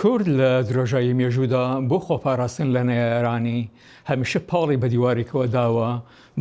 کورد لە درێژایی مێژوودا بۆ خۆپاراستن لە نەیارانی هەمیشە پاڵی بە دیوارێکەوە داوە،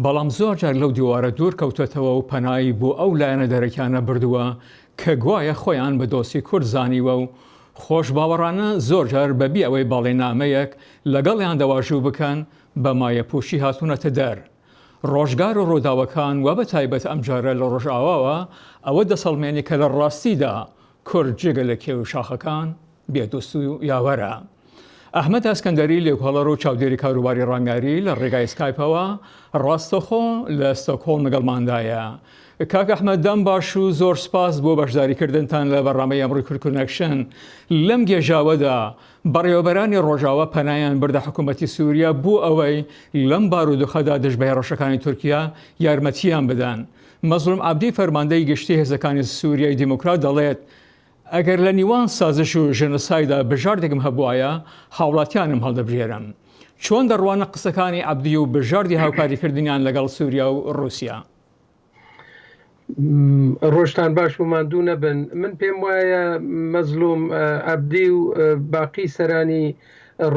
بەڵام زۆرجار لەو دیوارە دوور کەوتۆتەوە و پەنایی بۆ ئەو لایەنە دەرەکیانە بردووە کە گوایە خۆیان بە دۆستی کورد زانیوە و خۆشباوەڕانە زۆرجار بەبێ ئەوەی بەڵێنامەیەک لەگەڵیان دەواژوو بکەن بە مایەپووچی هاتوونەتە دەر. ڕۆژگار و ڕووداوەکان و بەتایبەت ئەمجارە لە ڕۆژاواوە ئەوە دەسەڵمێنێ کە لە ڕاستیدا کورد جگە لە کێو و شاخەکان بێ دۆست و یاوەرە. ئەحمەد ئەسکەندەری لێکۆڵەر و چاودێری کاروباری ڕامیاری لە ڕێگای سکایپەوە ڕاستەخۆ لە ستۆکهۆڵم لەگەڵماندایە. کاک ئەحمەد دەم باش و زۆر سپاس بۆ بەشداریکردنتان لە بەرنامەی ئەمڕۆی کورد کونەکشن. لەم گێژاوەدا بەڕێوەبەرانی ڕۆژاوا پەنایان بردە حکوومەتی سووریا بۆ ئەوەی لەم بارودۆخەدا دژ بە هێڕشەکانی تورکیا یارمەتییان بدەن. مەزڵوم عەبدی فەرماندەی گشتی هێزەکانی سوریای دیموکرات دەڵێت، ئەگەر لە نیوان سازش و ژێنۆسایدا بژاردێکم هەبوایە هاوڵاتیانم هەڵدەبژێرم. چۆن دەڕوانە قسەکانی عەبدی و بژاردی هاوکاریکردنیان لەگەڵ سوریا و روسیا؟ ڕۆژتان باش و ماندوو نەبن من پێم وایە مەزلوم عبدی و باقی سەرانی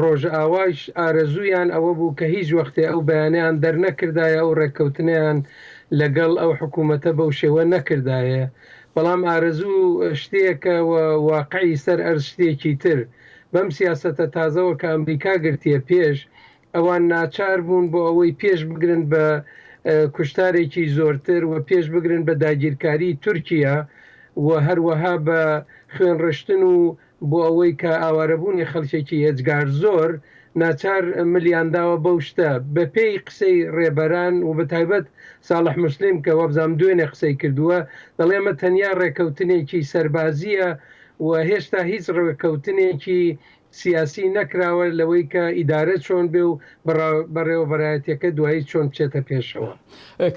ڕۆژئاوایش ئارەزوویان ئەوە بوو کە هیچ وەختێ ئەو بەیانەیان دەرنەکردایە و ڕێککەوتنیان لەگەڵ ئەو حکوومەتە بەو شێوە نەکردایە. بەڵام ئارەزوو شتێکە و واقعی سەر ئەرز شتێکی تر. بەم سیاسەتە تازەوە کە ئەمریکا گرتییە پێش، ئەوان ناچار بوون بۆ ئەوەی پێش بگرن بە کوشتارێکی زۆرتر و پێش بگرن بە داگیرکاری تورکیا و هەروەها بە خوێنڕشتن و بۆ ئەوەی کە ئاوارەبوونی خەڵکێکی ئێجگار زۆر ناچار ملیان داوە بەو شتە بە پێی قسەی ڕێبەران و بە تایبەت ساڵح موسلیم کە وابزانم دوێنێ قسەی کردووە دەڵێ ئەمە تەنیا ڕێکەوتنێکی سەربازییە و هێشتا هیچ ڕێکەوتنێکی سیاسی نەکراوە لەوەی کە ئیدارە چۆن بێ و بەڕێوەبەرایەتیەکە دوایی چۆن بچێتە پێشەوە.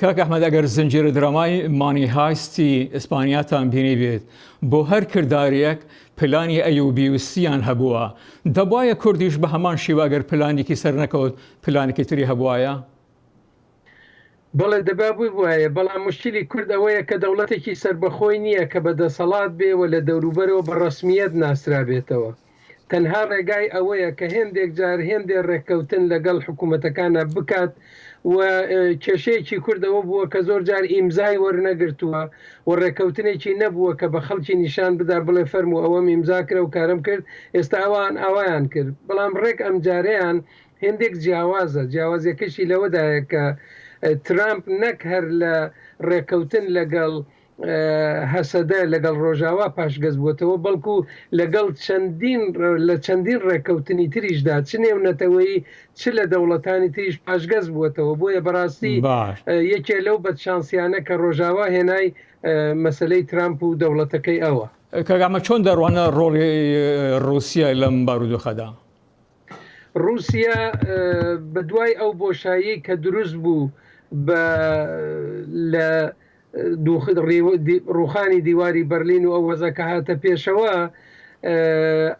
کاک احمد ئەگەر زنجیرە درامای مانی هایستی ئیسپانیاتان بینیبێت بۆ هەر کردارێک پلانی ئەیوبی و سیان هەبووە دەبوایە کوردیش بە هەمان شیوە ئەگەر پلانێکی سەرنەکەوت پلانێکی تری هەبوایە؟ بەڵێ دەبا ببوایە، بەڵام موشکیلی کورد ئەوەیە کە دەوڵەتێکی سەربەخۆی نییە کە بە دەسەڵات بێ و لە دەوروبەرەوە بە ڕەسمییەت ناسرابێتەوە. تەنها ڕێگای ئەوەیە کە هێندێک جار هێندێ ڕێککەوتن لەگەڵ حکوومەتەکانا بکات و کێشەیەکی کورد ئەوە بووە کە زۆر جار ئیمزای وەرنەگرتووە و ڕێککەوتنێکی نەبووە کە بە خەڵکی نیشان بدا بڵێ فەرموو ئەوەم ئیمزا کرا و کارەم کرد، ئێستا ئەوان ئاوایان کرد بەڵام ڕێک ئەمجارەیان هێندێک جیاوازە، جیاوازیەکەشی لەوەدایە کە ترامپ نەک هەر لە ڕێکەوتن لەگەڵ هەسەدە لەگەڵ ڕۆژاوا پاشگەز بووەتەوە، بەڵکو لەگەڵ چەندین لە چەندین ڕێکەوتنی تریشدا چ نێونەتەوەیی چ لە دەوڵەتانی تریش پاشگەز بووەتەوە، بۆیە بەڕاستی یەکێ لەو بەدشانسیانە کە ڕۆژاوا هێنای مەسەلەی ترامپ و دەوڵەتەکەی ئەوە. کاک ئەحمەد چۆن دەڕوانە ڕۆڵی ڕووسیە لەم بارودۆخەدا؟ ڕووسیا بە دوای ئەو بۆشاییەی کە دروست بوو بە لە ڕووخانی دیواری بەرلین و ئەو وەزە کە هاتە پێشەوە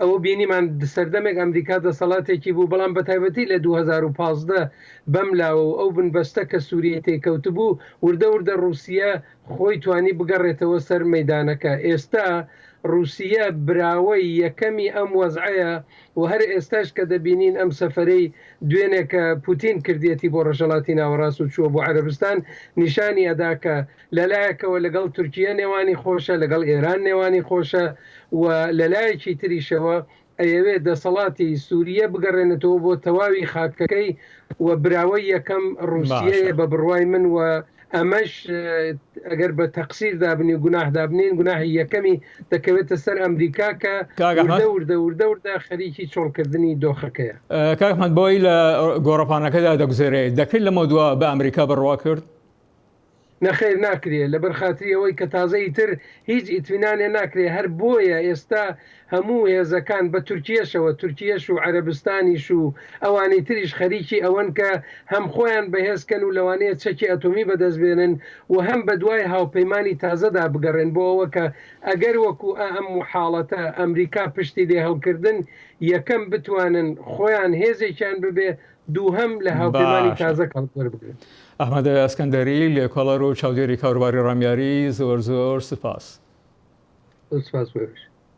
ئەوە بینیمان سەردەمێک ئەمریکا دەسەڵاتێکی بوو بەڵام بە تایبەتی لە 2015 بەم لاوە و ئەو بنبەستە کە سووریەی تێکەوت بوو وردە وردە ڕووسیا خۆی توانی بگەڕێتەوە سەر مەدانەکە ئێستا ڕووسیە براوەی یەکەمی ئەم وەزعەیە و هەر ئێستاش کە دەبینین ئەم سەفەرەی دوێنێ کە پوتین کردیەتی بۆ ڕەژەڵاتی ناوەڕاست و چووە بۆ عەرەبستان نیشانی ئەدا کە لە لایەکەوە لەگەڵ تورکیە نێوانی خۆشە لەگەڵ ئێران نێوانی خۆشە و لە لایەکی تریشەوە ئەیەوێ دەسەڵاتی سوریە بگەڕێنێتەوە بۆ تەواوی خاکەکەی و براوەی یەکەم ڕوسیەیە بە بڕوای من و ئەمەش ئەگەر بە تەقسیر دابنی و گوناح دابنین گوناحی یەکەمی دەکەوێتە سەر ئەمریکا کە وردە وردە وردە وردە خەریکی چۆڵکردنی دۆخەکەیە. کاک ئەحمەد بۆی لە گۆڕەپانەکەدا دەگوزەرێت دەکرد لەمەو دوا بە ئەمریکا بڕوا کرد؟ نەخیر ناکرێ لەبەر خاتری ئەوەی کە تازە ئیتر هیچ ئیتمینانێ ناکرێ هەر بۆیە ئێستا هەموو هێزەکان بە تورکیەشەوە، تورکیەش و عەرەبستانیش و ئەوانی تریش خەریکی ئەوەن کە هەم خۆیان بەهێز کەن و لەوانەیە چەکی ئەتۆمی بەدەست بێنن و هەم بەدوای هاوپەیمانی تازەدا بگەڕێن بۆ ئەوە کە ئەگەر وەکو ئە ئەم حاڵەتە ئەمریکا پشتی لێ هەڵکردن یەکەم بتوانن خۆیان هێزێکیان ببێ دووهەم لە هاوپەیمانی باشە. تازە کەڵک وەربگرن. ئەحمەد ئەسکەندەری، لێکۆڵەر و چاودێری کاروباری ڕامیاری، زۆر زۆر سوپاس. زۆر سوپاس بۆ ئێوەش.